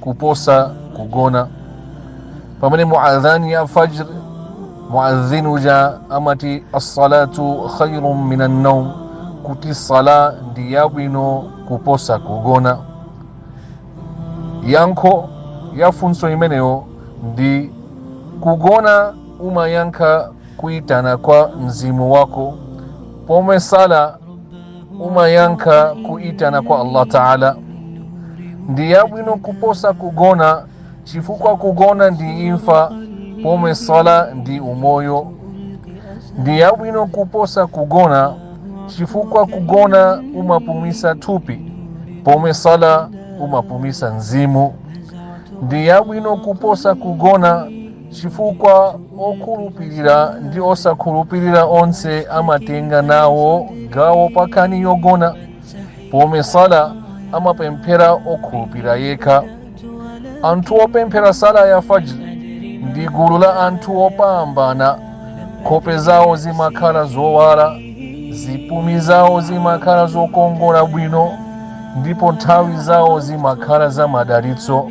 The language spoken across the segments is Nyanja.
kuposa kugona pamene mu adhan ya fajr muadhin uja amati assalatu khairun min annaum kuti sala ndi yabwino kuposa kugona yankho ya funso imeneyo ndi kugona umayankha kuitana kwa mzimu wako pomwe sala umayankha kuitana kwa allah taala ndi yabwino kuposa kugona chifukwa kugona ndi imfa pomwe sala ndi umoyo ndi yabwino kuposa kugona chifukwa kugona umapumisa thupi pomwe sala umapumisa mzimu ndi yabwino kuposa kugona chifukwa okhulupirira ndi osakhulupirira onse amatenga nawo gawo pa nkhani yogona pomwe sala amapemphera okhulupirira yekha anthu opemphera sala ya fajr ndi gulu la anthu opambana nkhope zawo zimakhala zowala zipumi zawo zimakhala zokongola bwino ndipo nthawi zawo zimakhala za madalitso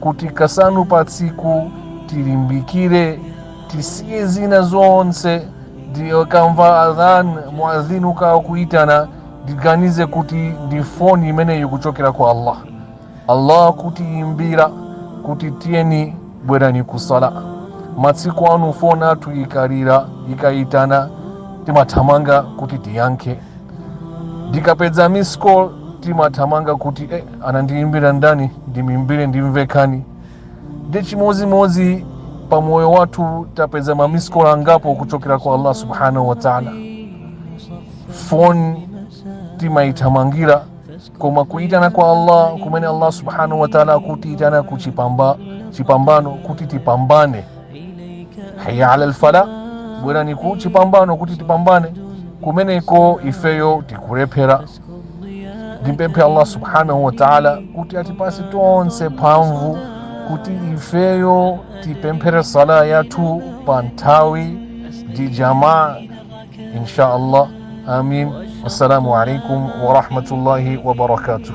kuti kasanu pa tsiku tilimbikire tisiye zina zonse ndikamva adhan muadhin akakhala kuitana ndiganize kuti ndi foni imeneyi kuchokera kwa allah allah kutiyimbira kuti tiyeni bwerani kusala masiku ano foni yathu ikalira ikayitana timathamanga kuti tiyankhe ndikapeza missed call timathamanga kuti eh, anandiimbira ndani ndimimbire ndimve nkhani ndi chimodzimodzi pa moyo wathu tapeza ma missed call angapo kuchokera kwa allah subhanahu wa taala foni timaithamangira koma kuitana kwa allah kumene allah subhanahu wa taala akutiitana ku chipambano kuti tipambane hayya alal falah bwerani ku chipambano kuti tipambane kumeneko ifeyo tikulephera ndimpemphe allah subhanahu wataala kuti atipatse tonse mphamvu kuti ifeyo tipemphere sala yathu pa nthawi ndi jamaa insha allah amin wassalamu alaikum warahmatullahi wabarakatuh